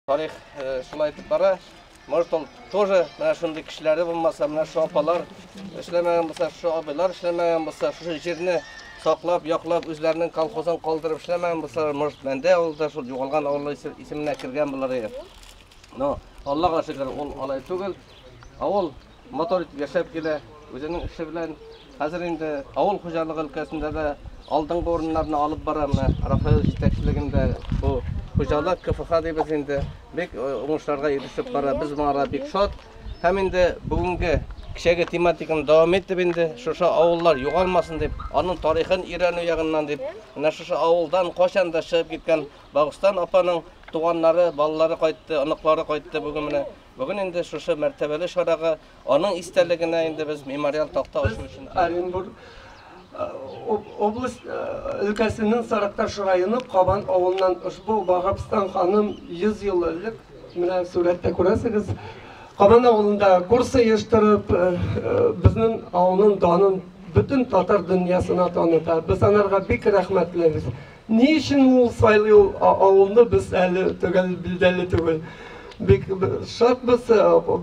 Тарих шулай итеп бара. Может, ул тоже менә шундый кешеләре булмаса, менә шу апалар эшләмәгән булса, шу абыйлар эшләмәгән булса, шушы җирне саклап, яклап, үзләренең колхозын калдырып эшләмәгән булса, может, мәндә ул да шул югалган авылы исеменә кергән булыр иде. Но Аллага шөкер, ул алай түгел. Авыл Матур итеп яшәп килә, үзенең эше белән. Хәзер инде авыл хуҗалыгы өлкәсендә дә алдынгы урыннарны алып бара менә Рафаил җитәкчелегендә бу хуҗалык, КФХ дибез инде, бик э, уңышларга ирешеп бара. Без моңа бик шат. Һәм инде бүгенге кичәге тематиканы дәвам итеп инде шушы авыллар югалмасын дип, аның тарихын өйрәнү ягыннан дип, менә шушы авылдан кайчан да чыгып киткән Багыстан апаның туганнары, балалары кайтты, оныклары кайтты бүген менә. Бүген инде шушы мәртәбәле чарага аның истәлегенә инде без мемориаль такта ачу өчен Оренбур область өлкәсенең Сарыкташ районы Кабан авылыннан ошбу Ваһапстан ханым 100 ел элек, менә сурәттә күрәсегез, Кабан авылында курс оештырып, безнең авылның данын бөтен татар дөньясына таныта. Без анарга бик рәхмәтлебез. Ни өчен ул сайлый ул авылны без әле төгәл билдәле түгел. Бик шатбыз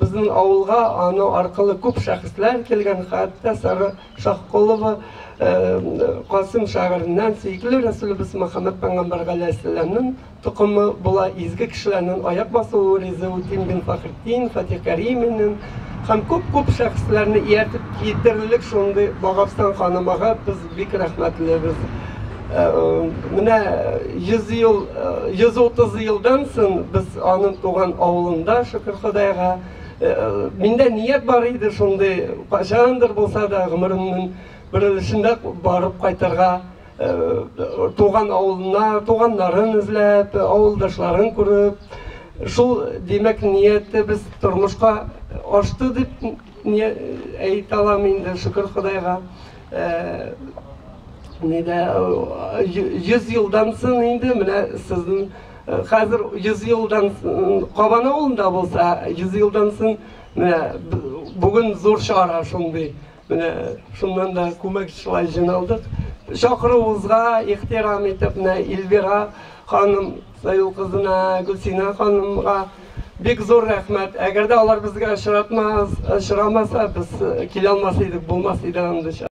безнең авылга аның аркылы күп шәхесләр килгән, хәтта Сара Шаһколова Касыйм шәгыреннән сөекле Рәсүлебез Мөхәммәд пәйгамбәр галәйһиссәламнең токымы була изге кешеләрнең аяк басуы Ризыутдин бин Фәхретдин, Фатих Кәриминен һәм күп-күп шәхесләрне ияртеп китерлек шундый багабстан ханымага без бик рәхмәтлебез. Менә 100 ел, 130 елдан сон без аның туган авылында, шөкер Ходайга. Миндә ният бар иде шундый, кайчандыр булса да гомеремнең бер өлешендә барып кайтырга, туган авылына, туганнарын эзләп, авылдашларын күреп. Шул, димәк, ниятебез тормышка ашты дип әйтә алам инде, шөкер Ходайга. Нидә 100 елдан соң инде менә сезнең хәзер 100 елдан Кабан авылында булса 100 елдан соң менә бүген зур чара шундый. Менә шуннан да күмәк шулай җыйналдык. Чакыруыбызга ихтирам итеп менә Илбира ханым Саюл кызына, Гөлсина ханымга бик зур рәхмәт. Әгәр дә алар безгә очратмас, очрамаса, без килә алмас идек, булмас иде андый